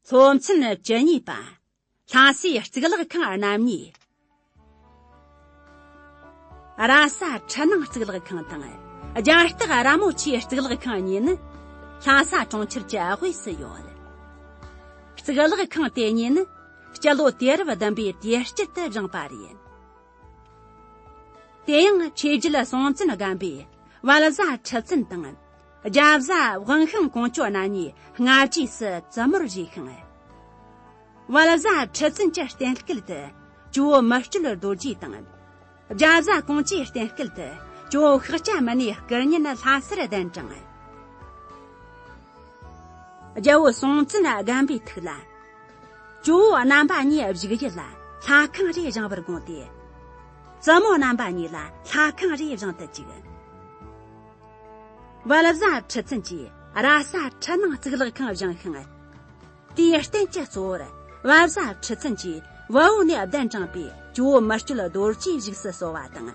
སློབ་ཚན་བཅུ་གཉིས་པ་ལྷ་སའི་གཙུག་ལག་ཁང་རྣམ་གཉིས་ར་ས་ཁྲི་སྣང་གཙུག་ལག་ཁང་དང་རྒྱ་སྟག་ར་མོ་ཆེའི་གཙུག་ལག་ཁང་གཉིས་ནི་ལྷ་ས་གྲོང་ཁྱེར་གྱི་དབུས་སུ་ཡོད། གཙུག་ལག་ཁང་དེ་གཉིས་ནི་སྤྱི་ལོ་དུས་རབས་བདུན་པའི་དུས་དཀྱིལ་དུ་བཞེངས་པ་རེད། དེ་ཡང་ཆོས་རྒྱུད་སྲོང་བཙན་སྒམ་པོས་དབལ་བཟའ་ཁྲི་བཙུན་དང། རྒྱ་བཟའ་བང་ཤིང་གོང་བཅོ་ན་ནས་སྔ་རྗེས་སུ་བཙུན་མོར་བཞེས་ཤིང། དབལ་བཟའ་ཁྲི་བཙུན་གྱི་རྟེན་སྐལ་དུ་ཇོ་བོ་མི་སྤྲུལ་རྡོ་རྗེ་དང། རྒྱ་བཟའ་གོང་བཅོའི་རྟེན་སྐལ་དུ་ཇོ་བོ་ཤཱཀྱ་མུ་ནེའི་སྐུ་བརྙན་ལྷ་སར་གདན་དྲངས། རྒྱལ་པོ་སྲོང་བཙན་སྒམ་པའི་ཐུགས་ལ། ཇོ་བོ་རྣམ་པ་གཉིས་བཞུགས་ཡུལ་ལ་ལྷ་ཁང་རེ་བཞེངས་པར་དགོངས་ཏེ། བཙུན་མོ་རྣམ་པ་གཉིས་ལ་ལྷ་ཁང་རེ་བཞེངས་དུ་བཅུག། དབལ་བཟའ་ཁྲི་བཙུན་གྱིས་ར་ས་ཁྲི་ནང་གཙུག་ལག་ཁང་བཞེངས་ཤིང། དེའི་རྟེན་གྱི་གཙོ་བོར་དབལ་བཟའ་ཁྲི་བཙུན་གྱིས་དབལ་བོ་ནས་གདན་དྲངས་པའི་ཇོ་བོ་མི་སྐྱོད་རྡོ་རྗེ་བཞུགས་སུ་གསོལ་བ་དང།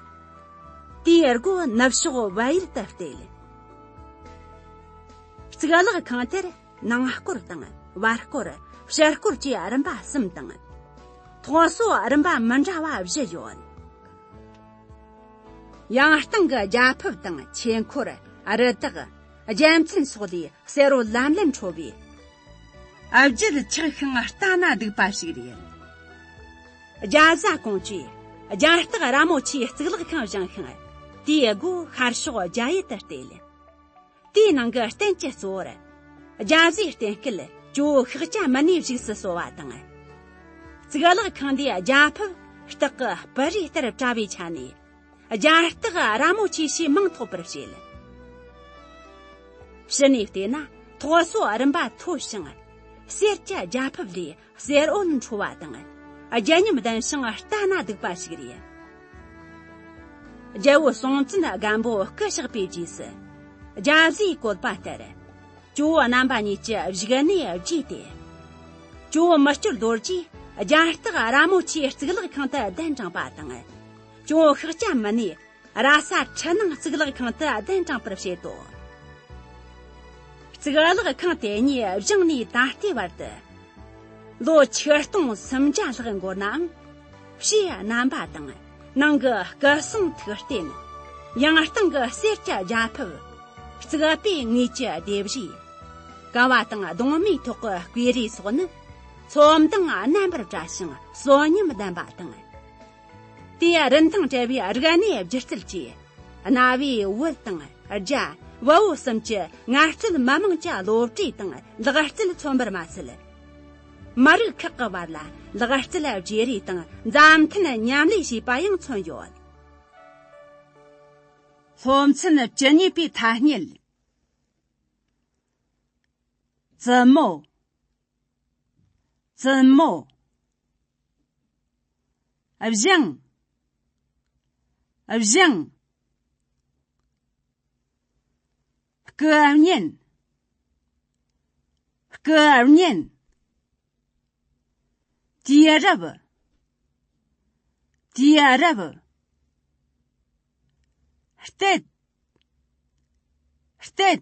དེའི་སྒོ་ནུབ་ཕྱོགས་དབལ་ཡུལ་དུ་གཏད། གཙུག་ལག་ཁང་དེར་ནང་སྐོར་དང་བར་སྐོར་ཕྱི་སྐོར་བཅས་རིམ་པ་གསུམ་དང། ཐོག་སོ་རིམ་པ་མི་འདྲ་བ་བཞི་ཡོད། ཡང་སྟེང་གི་རྒྱ་ཕིབས་དང་ཆོས་འཁོར་རི་དྭགས་རྒྱལ་མཚན་སོགས་ལས་གསེར་རོ་ལམ་ལམ་འཕྲོ་བས། བརྗིད་ཆགས་ཤིང་ལྟ་ན་སྡུག་པ་ཞིག་རེད། རྒྱ་བཟའ་ཀོང་ཇོས་རྒྱ་སྟག་ར་མོ་ཆེའི་གཙུག་ལག་ཁང་བཞེངས་ཤིང། དེའི་སྒོའི་ཤར་ཕྱོགས་རྒྱ་ཡུལ་དུ་གཏད། དེའི་ནང་གི་རྟེན་གྱི་གཙོ་བོར། རྒྱ་བཟའི་རྟེན་སྐལ་ཇོ་ཤཱཀ་ཅཱ་མ་ནེའི་བཞུགས་སུ་གསོལ་བ་དང། གཙུག་ལག་ཁང་འདི་རྒྱ་ཕིབས་སྟག་གི་སྤུ་རིས་ལྟར་བཀྲ་བའི་ཆ་ནས། རྒྱ་སྟག་ར་མོ་ཆེ་ཞེས་མིང་ཐོགས་པར་བྱེད། ཕྱི་ནས་བལྟས་ན་ཐོག་སོ་རིམ་པ་མཐོ་ཞིང། སེར་སྐྱ་རྒྱ་ཕིབས་ལས་གསེར་འོད་འཕྲོ་བ་དང་རྒྱལ་མཉམ་ལྡན་ཞིང་ལྟ་ན་སྡུག་པ་ཞིག་རེད། རྒྱལ་བོ་སྲོང་བཙན་སྒམ་པོ་སྐུ་གཤེགས་པའི་རྗེས་སུ་རྒྱ་བཟའི་བཀོད་པ་ལྟར་ཇོ་བོ་རྣམ་པ་གཉིས་ཀྱི་བཞུགས་གནས་བརྗེས་ཏེ། ཇོ་བོ་མི་སྐྱོར་རྡོ་རྗེས་རྒྱ་སྟག་ར་མོ་ཆེའི་གཙུག་ལག་ཁང་དུ་གདན་དྲངས་པ་དང། ཇོ་བོ་ཤཱཀྱ་མུ་ནེས་ར་ས་ཕྲི་སྣང་གཙུག་ལག་ཁང་དུ་གདན་དྲངས་པར་བྱེད་དོ། གཙུག་ལག་ཁང་དེ་ཉིད་བཞེངས་ནས་ད་ལྟའི་བར་དུ་ལོ་ཆིག་སྟོང་སུམ་བརྒྱ་ལྷག་འགོར་ནའང། ཕྱིའི་རྣམ་པ་དང་ནང་གི་སྐུ་གསུང་ཐུགས་རྟེན། ཡང་སྟེང་གི་གསེར་གྱི་རྒྱ་ཕིབས། རྩིག་པའི་ངོས་ཀྱི་ལྡེབས་བཞི། ཀ་བ་དང་གདོང་མའི་ཐོག་གི་བསྐོས་རས་སོགས་ནི་ཚོམ་དང་རྣམ་པར་བཀྲ་ཞིང་གསོན་ཉམས་ལྡན་པ་དང། དེ་རིན་ཐང་བྲལ་བའི་རིག་གནས་སྒྱུ་རྩལ་གྱིས་གནའ་བོའི་བོད་དང་རྒྱ་བལ་བོད་གསུམ་གྱི་ངལ་རྩོལ་མི་དམངས་ཀྱི་བློ་གྲོས་དང་ལག་རྩལ་མཚོན་པར་མ་ཟད། མི་རིགས་ཁག་གི་བར་ལ་ལག་རྩལ་བརྗེ་རེས་དང་མཛའ་མཐུན་མཉམ་ལས་བྱས་པ་ཡང་མཚོན་ཡོད། སློབ་ཚན་བཅུ་གཉིས་པའི་ཐ་སྙད། བཙུན་མོ། བཙུན་མོ། བཞེངས། བཞེངས། སྐུ་བརྙན། སྐུ་བརྙན། དེའི་རབ། དེའི་རབ། སྟེ། སྟེ།